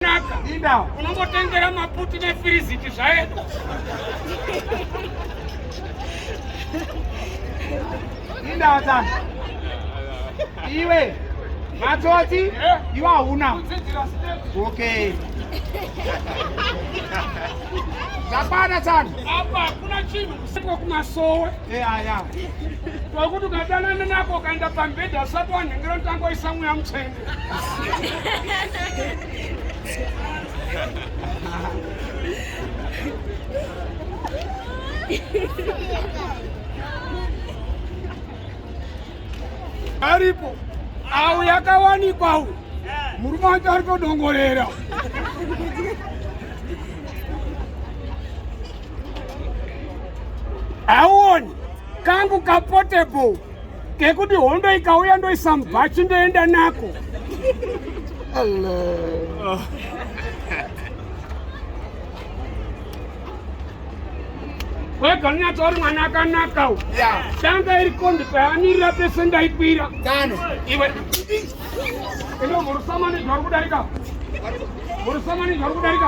naka unongotengera maputi nefiriziti zvaenda indawa dzangu iwe matsotsi eh? iwe hauna okay zvakwana tsano apa hakuna chinhu kusiko kumasowe eh, aya tokuti ukadanana nako ukaenda pambedha usati wanhengera kuti angoisa mweya mutsvene aripo awo yakawanikwa uyu murume wacho ari kudongorera auoni kangu kapotable kekuti hondo ikauya ndoisa mubhachi ndoenda nako Allah. wega unyatsori mwana akanaka u danga iri kondi paamirira pese ndaikwira iwe ino murusamanizva uri kudarika murusamanizva uri kudarika